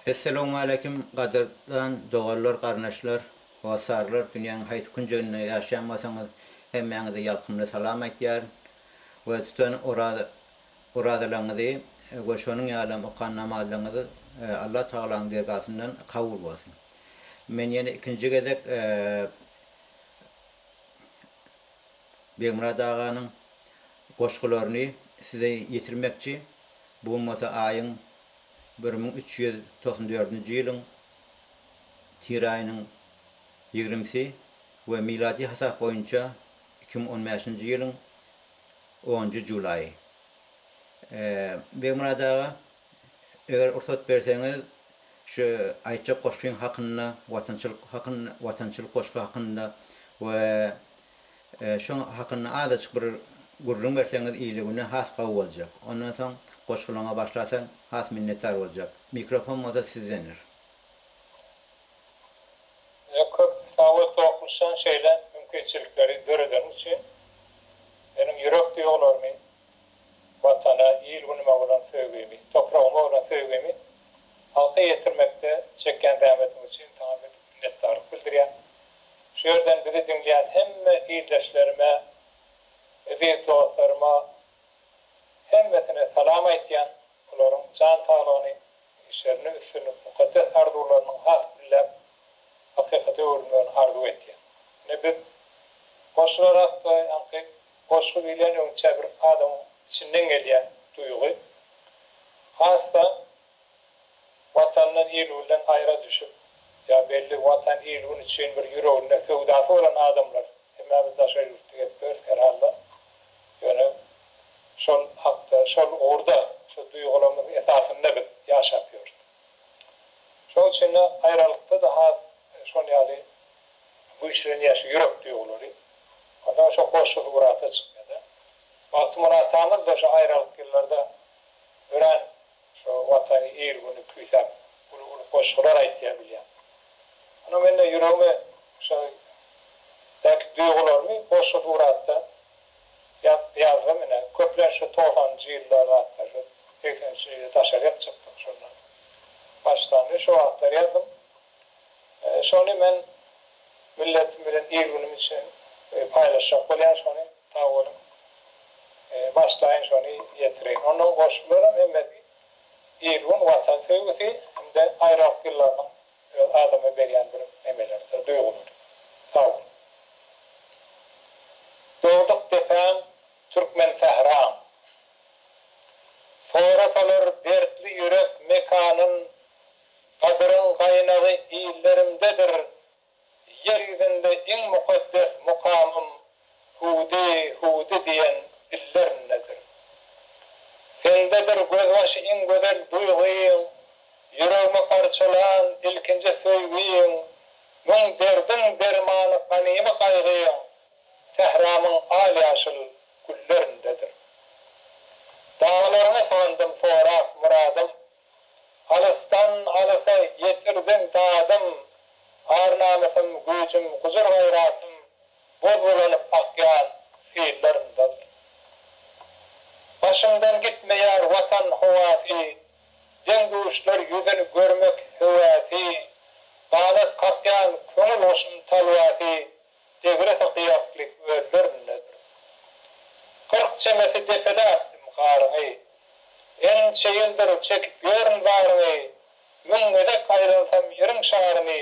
Essalawmaleýkim gadyrdan doganlar garyndaşlar hossarlar dünýäň haýsy künjeginde ýaşaýan bolsaňyz hemmäňize ýalkymly salam aýtýaryn we tutan oraza orazalaňyzy we şonuň ýalam okan namazlaňyzy Allah Tagalaň dergasyndan kabul bolsun men ýene ikinji gezek Begmyrat aganyň goşgularyny size ýetirmekçi, bu gün bolsa aýyň bir müň üç ýüz togsan dördünji ýylyň tire aýynyň ýigrimisi we miladi hasap boýunça iki müň on bäşinji ýylyň onunjy julaýy. Begmyrat aga! Eger ursat berseňiz şu aýtjak goşgyň hakynda watançylyk hakynda watançylyk goşgy hakynda we şu hakynda azajyk bir gürrüň berseňiz ile güne has gowy boljak. Ondan soň goşgylaňa başlasaň has minnetdar boljak. Mikrofon bolsa sizdendir. Size köp sag bol Tokmuşjan şeýle mümkinçilikleri döredeniň üçin. Meniň ýürek duýgularymy Watana, il-günüme bolan söýgimi, topragyma bolan söýgimi halka ýetirmekde çekýän zähmetiňiz üçin saňa köp minnetdarlyk bildirýän. Şu ýerden bizi diňleýän hemme ildeşlerime, eziz dostlaryma hemmesine salam aýtýan, olaryň jan saglygyny, işlerinde üstünlik, mukaddes arzuwlarynyň has gülläp, hakykata öwrülmegini arzuw etýän. Ine biz goşular hakda ýaňky Goşgy diýlen öňçä bir adamyň içinden gelýän duýgy. Has-da Watandan, il-günden aýra düşüp, ýa belli Watan, il-gün üçin bir ýüreginde söwdasy bolan adamlar, hemmämiz daşary ýurtda gezip ýörüs herhalda, ýöne şol hakda, şol ugurda, şol duýgularymyz esasynda biz ýaşap ýörüs. Şonuň üçin-de aýralykda-da has şol ýaly güýçlenýär şu ýürek duýgulary. Onsoň şo hoşsuz ugrata çykýar-da. Magtymguly atamyz-da şo aýralyk ýyllarda örän şo Watany, il-güni küýsäp uly-uly goşgular aýtýar bilýän. Ony men-de ýüregimi şo belki duýgularymy hoşsuz ugratda Ýazga menä köplenç şu togsanynjy ýyllar zatda şu segseninji ýylda daşaryk çykdyk şondan başlandy şo wagtlar ýazdym şony men milletim bilen il günüm üçin paýlaşjak bolýan şony sag boluň başlaýyn şony ýetireýin ondan goşgularam hemmesi il gün watan söýgüsi hem-de aýralyk ýyllarynyň Öz adama berýän bir emelerde duýgularym. Sag bol. Dogduk depäň, türkmen sähraň. Sorasalar dertli ýürek mekanyn, Gadyryň gaýnagy illerimdedir, Ýer ýüzünde iň mukaddes mukamym. Hudi, hudi diýen dillerindedir. Sendedir gözbaşy iň gözel duýgyň, Ýüregimi parçalan ilkinji söýgiň, Müň derdiň dermany ganymy gaýgyň, Sähramyň al-ýaşyl güllerindedir. Daglaryňy sygandym sorap myradym, Alysdan alysa ýetirdiň dadym, Ar-namysym, güýjüm, gujur-gaýratym, Gozgalanyp akýan sillermden. Başyňdan gitmeýär Watan howasy, Deň-duşlar ýüzün görmek höwäsi, Ganat kakýan köňül guşum talwasy Degresi gyýakly göllerindedir. Kyrk çemesi depeläpdim garyňy, Ençe ýyldyr çekip ýörün zaryňy, Müň gezek aýlansam ýeriň şaryny,